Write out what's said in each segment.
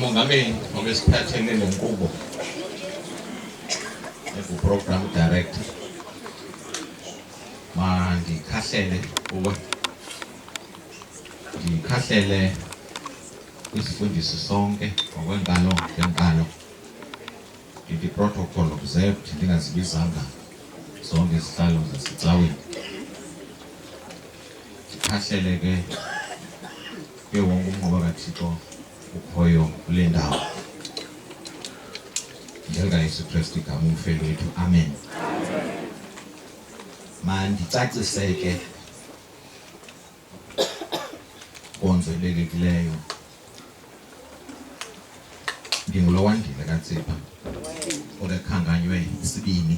Mongameli ngokesiphathele le nkqubo enguprogram director mandikhahlele kuwe ndikhahlele kwisifundisi sonke ngokwenkalo ngenkalo ndithi protocol observed ndingazibizanga zonke izihlalo zasecaweni ahleleke ke wonke umnqoba kathixo ukhoyo kule ndawo njengayesu kristu igama umfeli wethu amen mandicaciseke konzelelekileyo ndingulo wandile katsipha olekhankanywe isibini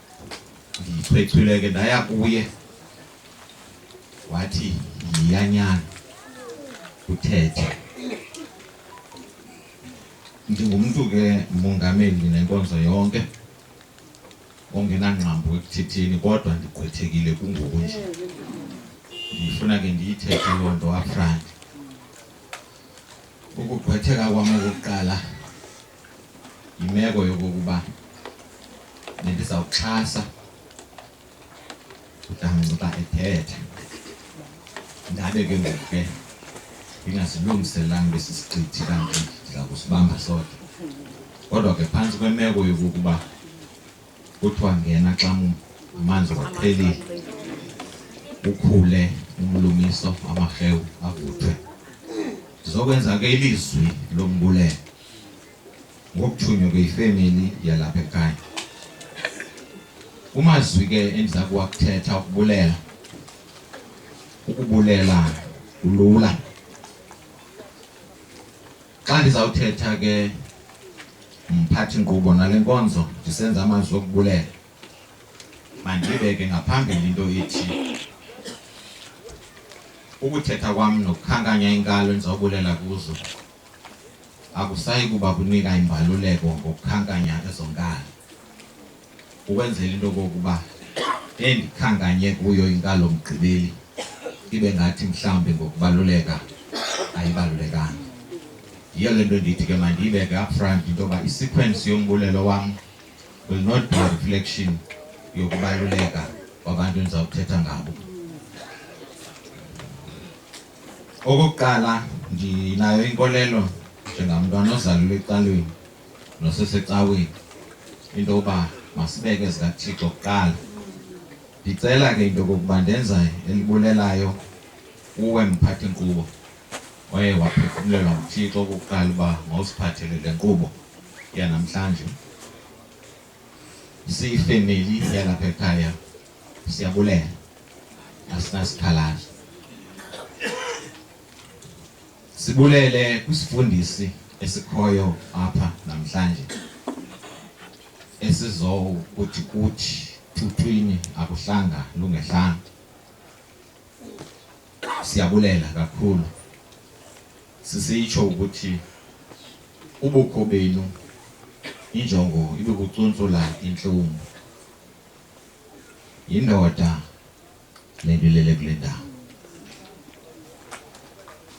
ndiyichwechwile ke ndaya kuye wathi yiyanyana uthethe ndingumntu ke mongameli nenkonzo yonke ongenangqambo ekuthetheni kodwa ndigqwethekile kungoku nje ndifuna ke ndiyithethe loo nto afrani ukugqwetheka kwam okokuqala yimeko yokokuba bendizawuxhasa udancuba ethetha ndabe ke ngoku ke ndingazilungiselanga besi sichithi kanti ndiza kusibamba sodwa kodwa ke phantsi kwemeko yokokuba kuthiwa ngena xa amanzi waqhelile ukhule umlumiso amarhewu avuthwe ndizokwenza ke ilizwi lombulelo ngokuthunywa kweyifemeli yalapha ekhaya kumazwi ke endiza kuwakuthetha ukubulela ukubulela kulula xa ndizawuthetha ke mphathi nkqubo nale nkonzo ndisenza amazwi okubulela mandibeke ngaphambili into ethi ukuthetha kwam nokukhankanya inkalo endizawubulela kuzo akusayi kuba kunika imbaluleko ngokukhankanya ezonkalo ukwenzela into kokuba endikhankanye kuyo inkalo mgqibeli ibe ngathi mhlawumbi ngokubaluleka ayibalulekanga yiyo le nto ndithi ke mandiyibeke upfront into yoba isequence yombulelo wam will not be a reflection yokubaluleka kwabantu endizawuthetha ngabo Okokuqala ndinayo inkolelo njengamntwana ozalelwe ecalweni nosesecaweni into yokuba masibeke zikaThixo kuqala. Ndicela ke into yokokuba ndenza elibulelayo kuwe mphathi nkqubo waye waphefumlelwa nguThixo okokuqala uba mawusiphathele le nkqubo yanamhlanje siyifemeli yalapha ekhaya Siyabulela asinasikhalazo. Sibulele kwisifundisi esikhoyo apha namhlanje esizokuthi kuthi thuthwini akuhlanga lungehlanga. Siyabulela kakhulu. Sisitsho ukuthi ubukho benu injongo ibe kucuntsula intlungu Yindoda le nto ilele kule ndawo.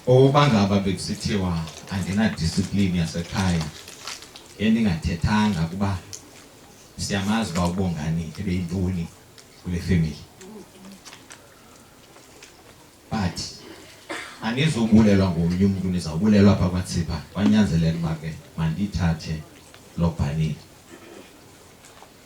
Oba ngaba bekusithiwa andinadisiplini yasekhaya endingathethanga kuba siyamazi uba ubongani ebeyintoni kule femeli but anizobulelwa ngomnye umntu nizawubulelwa apha kwatsipha kwanyanzeleka uba ke mandiyithathe loo bhanile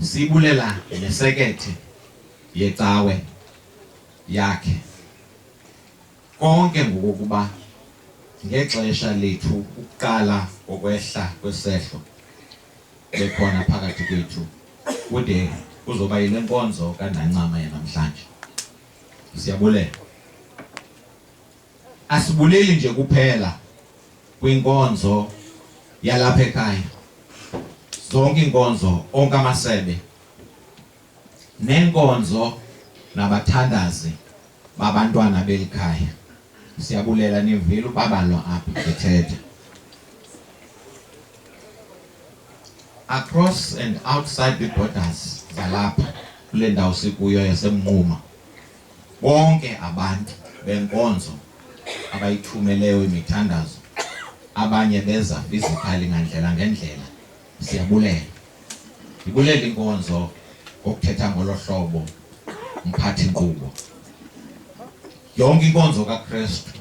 Sibulela nesekethe yecawe yakhe konke ngokokuba ngexesha lethu ukuqala kokwehla kwesehlo bekhona phakathi kwethu kude kuzoba yile nkonzo kandancama yanamhlanje siyabulela Asibuleli nje kuphela kwinkonzo yalapha ekhaya, zonke iinkonzo, onke amasebe nenkonzo nabathandazi babantwana beli khaya. Siyabulela nivile ubabalwa apha ndithetha. Across and outside the borders zalapha kule ndawo sikuyo yaseMnquma. Bonke abantu benkonzo abayithumeleyo imithandazo abanye beza physically ngandlela ngendlela siyabulela ndibulela inkonzo ngokuthetha ngolo hlobo mphathi nkqubo yonke inkonzo kakristu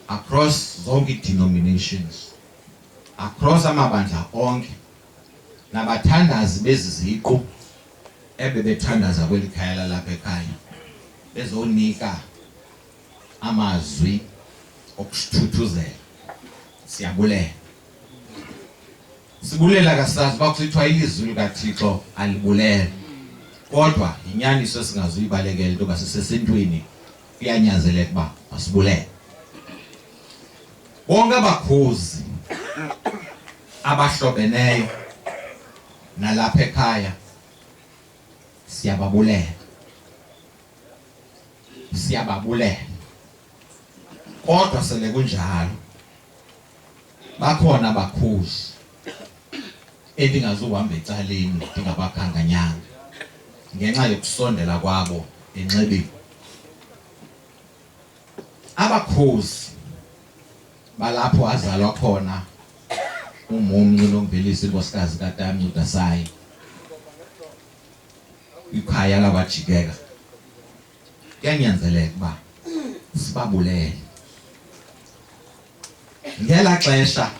across zonke ii-denominations across amabandla onke nabathandazi bezi ziqu ebebethandaza kweli khaya lalapha ekhaya bezonika amazwi okusithuthuzela siyabulela sibulela kasazi uba kusithiwa ilizwi likathixo alibulele kodwa yinyaniso esingazuyibalekela into yoba sisesentwini kuyanyanzeleka uba masibulele Bonke abakhuzi abahlobeneyo nalapha ekhaya siyababulela siyababulela kodwa sele kunjalo bakhona abakhuzi endingazuhamba ecaleni ndingabakhankanyanga ngenxa yokusondela kwabo enxebeni abakhozi balapho azalwa khona umumnci lomvelisi inkosikazi katamnci udasayi ikhaya lakwajikeka kuyanyanzeleka uba sibabulele ngela xesha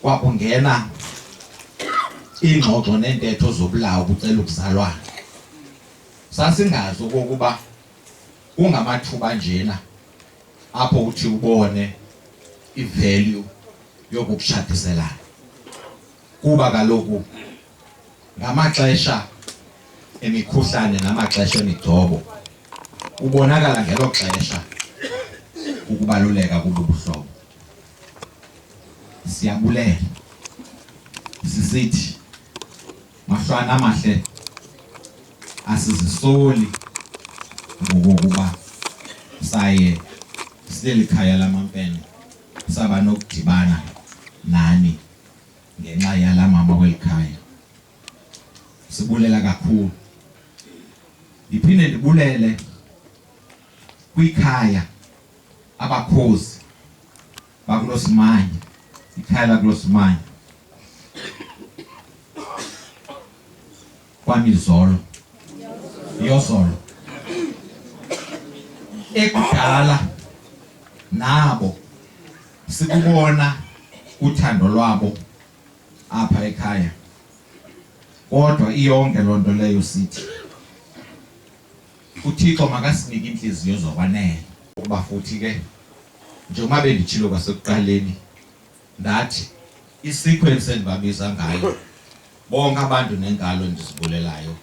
kwakungena iingxoxo neentetho zobulawo bucela ukuzalwana sasingazi okokuba kungamathuba njena apho uthi ubone ivalue yokukushadiselana kuba kaloku ngamaxesha emikhuhlane namaxesha emigcobo ubonakala ngelo xesha ukubaluleka kububuhlobo Siyabulela sisithi mahlwana amahle asizisoli ngokokuba saye sileli khaya lamampene saba nokudibana nani ngenxa yala mama kweli khaya sibulela kakhulu ndiphinde ndibulele kwikhaya abakhozi bakulosimanya ikhaya lakulosimanya kwamizolo yozolo ekudala nabo sikubona uthando lwabo apha ekhaya kodwa iyonke loo nto leyo sithi uthixo makasinike iintliziyo zokwanela ukuba futhi ke njengoba benditshilo kwasekuqaleni ndathi isequence endibabiza ngayo bonke abantu nenkalo endizibulelayo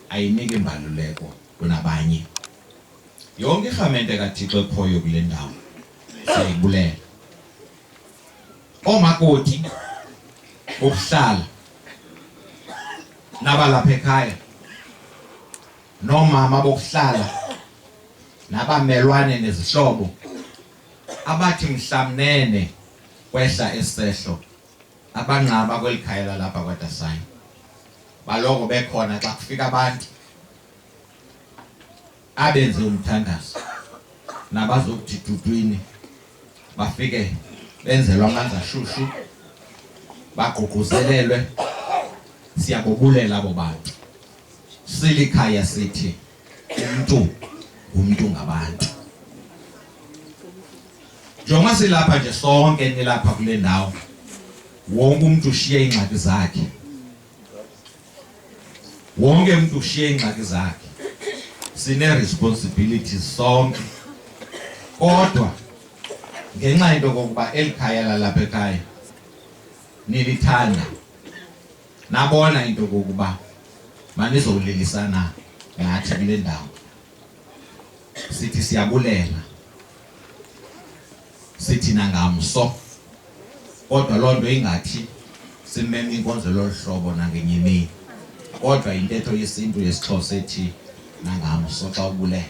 ayinike imbaluleko kunabanye yonke irhamente kathixo ekhoyo kule ndawo siyayibulela oomakoti bokuhlala nabalapha ekhaya noomama bokuhlala nabamelwane nezihlobo abathi mhlamnene kwehla esehlo abangcaba kweli khaya lalapha kwadasayo baloko bekhona xa kufika abantu abenze umthandazo nabazokuthi dudwini bafike benzelwa amanzi ashushu bagqugquzelelwe siyabobulela abo bantu Silikhaya sithi umntu umntu ngabantu. Njengoba silapha nje sonke nilapha kule ndawo, wonke umntu ushiye iingxaki zakhe. Wonke umntu ushiye iingxaki zakhe. Sine responsibility sonke. Kodwa ngenxa yento kokuba eli khaya lalapha ekhaya nilithanda nabona into kokuba manizowulilisana ngathi kule ndawo sithi siyabulela sithi nangamso kodwa loo nto ingathi simeme inkonzo lolu hlobo nangenye imini kodwa yintetho yesintu yesixhosa ethi nangamso xa ubulela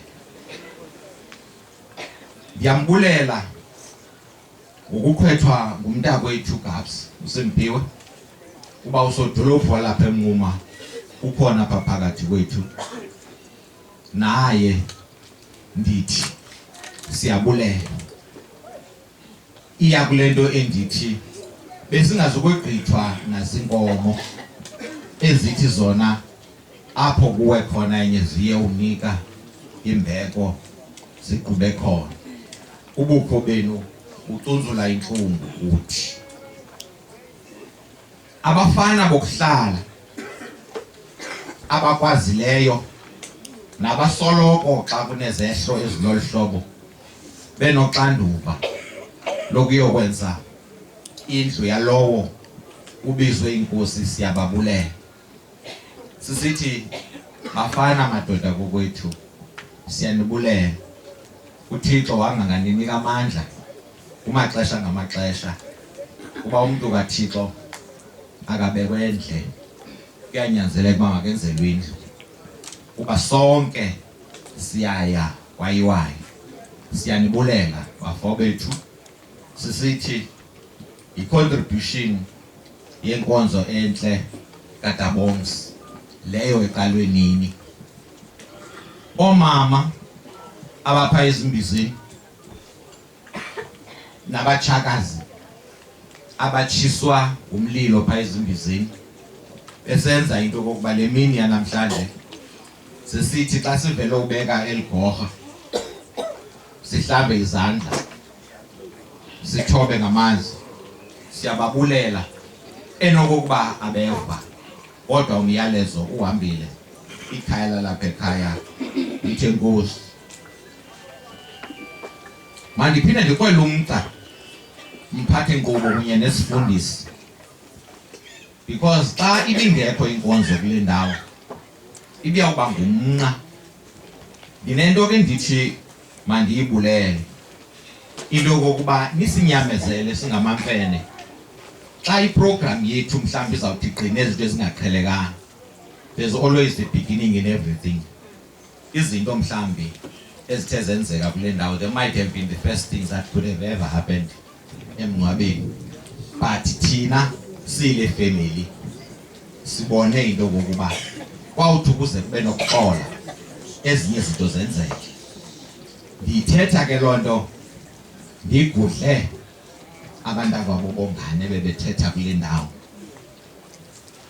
ndiyambulela ngokukhethwa ngumntakwethu Gabs uSimpiwe uba usodolophu walapha eMnquma ukhona apha phakathi kwethu naye ndithi siyabulela iya kule nto endithi besingazukwegqithwa nazinkomo ezithi zona apho kuwe khona enye ziye unika imbeko ziqhube khona ubukho benu ucunzula intlungu uthi abafana bokuhlala abakwazileyo nabasoloko xa kunezehlo ezilolu hlobo benoxanduva lokuyokwenza indlu yalowo ubizwe inkosi siyababulela Sisithi mafana madoda kokwethu siyanibulela. UThixo wanga nganinika amandla kumaxesha ngamaxesha kuba umntu kaThixo akabekwe endle kuyanyanzeleka uba makenzelwe indlu kuba sonke siyaya kwayiwayo siyanibulela bafo bethu sisithi yicontribution yenkonzo entle kataboms leyo eqalwe nini omama abapha ezimbizini nabatshakazi abatshiswa ngumlilo pha ezimbizini esenza into okokuba le mini yanamhlanje sisithi xa sivele ubeka eli gorha sihlambe izandla sithobe ngamanzi siyababulela enokokuba abeva kodwa umyalezo uhambile ikhaya lalapha ekhaya ithe nkosi mandiphinde ndikwele umgca mphathi nkqubo kunye nesifundisi because xa ibingekho inkonzo kule ndawo ibiyawuba ngumnqa ndinento ke ndithi Mandiyibulele into yokokuba nisinyamezele singamamfene xa iprogram yethu mhlawumbi izawuthi gqine izinto ezingaqhelekanga there's always the beginning in everything izinto mhlawumbi ezithe zenzeka kule ndawo they might have been the first things that could have ever happened emngcwabeni but thina sile family sibone into kokuba kwawuthi ukuze kube nokuxola ezinye izinto zenzeke ndiyithetha ke loo nto ndigudle abantu akwabo bongane bebethetha kule ndawo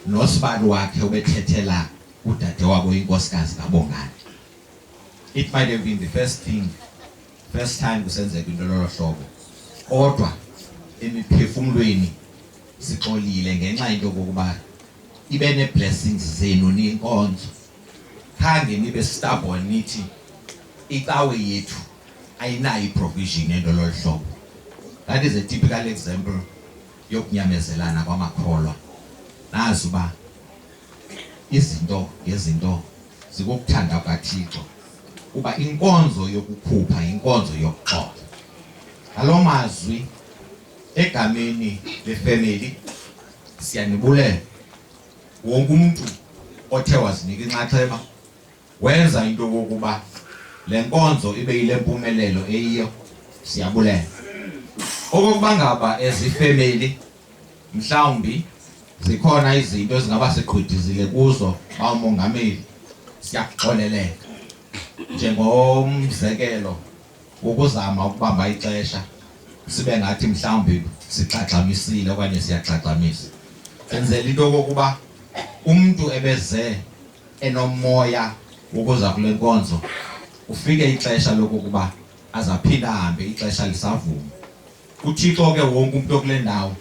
nosibali wakhe ubethethela udade wabo inkosikazi kabongane it might have been the first thing first time kusenzeka into lolo hlobo kodwa emiphefumlweni sixolile ngenxa into kokuba ibe ne-blessings zenu ninkonzo khange nibe stubborn nithi icawe yethu ayinayo iprovision ento lolu hlobo that is a typical example yokunyamezelana kwamakholwa nazi uba Izinto ngezinto zikukuthanda kukaThixo kuba inkonzo yokukhupha yinkonzo yokuxoxa. Ngalo mazwi egameni lefemeli siyanibulela wonke umntu othe wazinika inxaxheba wenza into yokokuba le nkonzo ibe yile mpumelelo eyiyo siyabulela okokuba ngaba ezifemeli mhlawumbi zikhona izinto ezingaba sigqwidizile kuzo bawumongameli siyakuxoleleka njengomzekelo ukuzama ukubamba ixesha sibe ngathi mhlawumbi sigxagxamisile okanye siyagxagxamisa senzela into yokokuba umntu ebeze enomoya wokuza kule nkonzo ufike ixesha lokokuba azaphinde ahambe ixesha lisavuma uthixo ke wonke umntu okule ndawo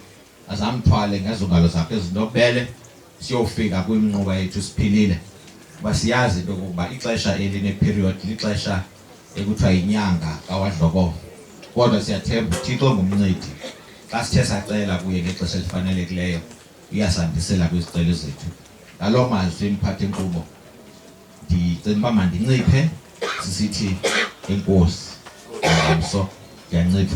azamthwale ngezongalo zakhe ezinobele siyofika kwimnquba yethu siphilile uba siyazi into yokokuba ixesha elineperiod lixesha ekuthiwa yinyanga kawadlokovo kodwa siyathemba uthixo ngumncedi xa sithe sacela kuye ngexesha elifanelekileyo uyasandisela kwizicelo zethu ngaloo mazwi mphathi nkqubo ndicela uba mandinciphe sisithi enkosi ngomso ndiyancipha